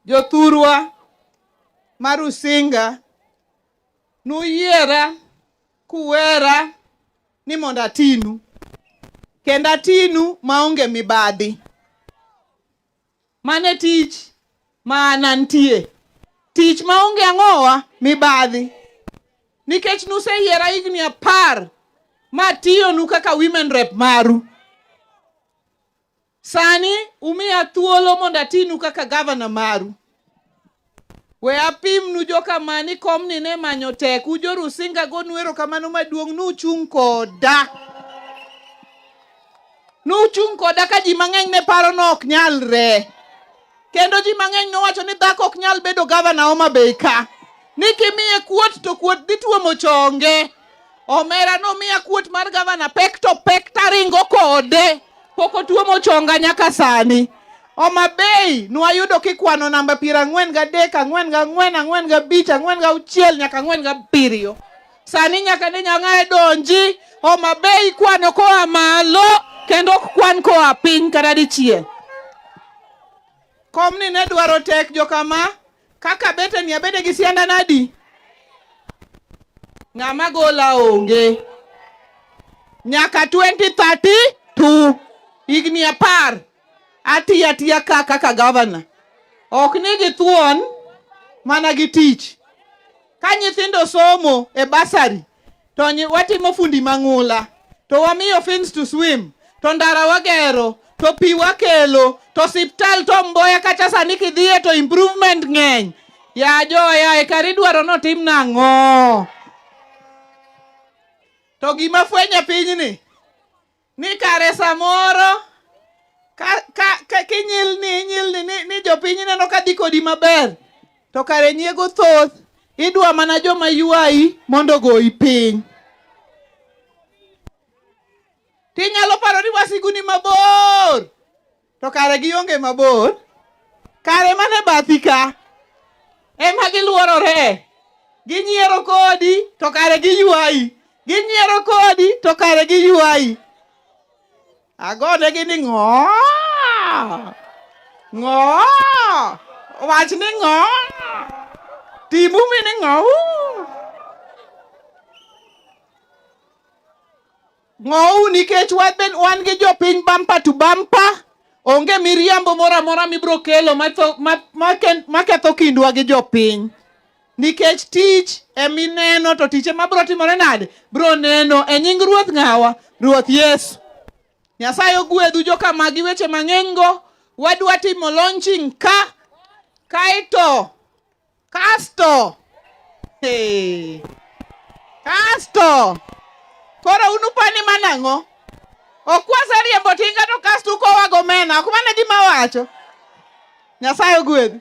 Jothurwa ma Rusinga nuyiera kuwera ni mondo atinu kendo atinu maonge mibadhi. Mane tich ma an antie, tich maonge ang'owa mibadhi, nikech nuseyiera higni apar matiyonu kaka women rep maru. Sani umiya thuolo mondo atinu kaka gavana maru. We apimnu jokama ni komni ne manyo tek, ujoru singa gonu erokamano maduong' nuchung' koda. Nuchung' koda ka ji mang'eny ne paro ni ok nyalre. Kendo ji mang'eny nowacho ni dhako ok nyal bedo gavana Homa Bay ka ni kimiye kuot to kuot dhi tuomo chonge. Omera nomiya kuot mar gavana pek to pek taringo kode pok otuomo chonga nyaka sani. Homa Bay nwayudo kikwano namba piero ang'wen gadek, ang'wen gang'wen, ang'wen gabich, ang'wen gauchiel nyaka ang'wen gabiriyo. Sani nyaka ne nyang'ae donji Homa Bay ikwano koa malo kendo ok kwan koa piny kata dichiel. Komni ne dwaro tek jokama kaka bete ni abede gi sianda nadi ng'ama gola onge nyaka 2032 higni apar atiya tiya ka kaka gavana ok ni githuon mana gi tich Ka nyithindo somo e basari to watimo fundi mang'ula to wamiyo fins to swim to ndara wagero to pi wakelo to siptal to Mboya kacha sani kidhiye to improvement ng'eny ya joya e kari dwaro notim nang'o? To gima fwenyo pinyni ni kare samoro ka, ka, ka kinyilni inyilni ni, ni jopiny ineno ka dhi kodi maber to kare nyiego thoth idwa mana joma ywayi mondo ogoyi piny tinyalo paro ni wasiguni mabor To kare gionge mabor, kare mane bathi ka ema giluorore, ginyiero kodi to kare giywayi, ginyiero kodi to kare giywayi. Agonegi ni ng'o ng'o wach ni ng'o timu mi ni ng'o Ng'ou nikech wabed wan gi jopiny bampa to bampa. Onge miriambo moro amora mibro kelo matho- ma- ma- ken- maketho kindwa gi jopiny. Nikech tich emineno to tich ema bro timore nade? Bro neno e nying Ruoth ng'awa? Ruoth Yesu. Nyasaye ogwedhu joka magi weche mang'enygo. Wadwa timo launching ka kaeto Kasto. Hey. Kasto. Koro unupani manang'o? Okwasa riembo tinga to kasto ukowa gomena. Ok mane gima wacho. Nyasaye ogwedhi.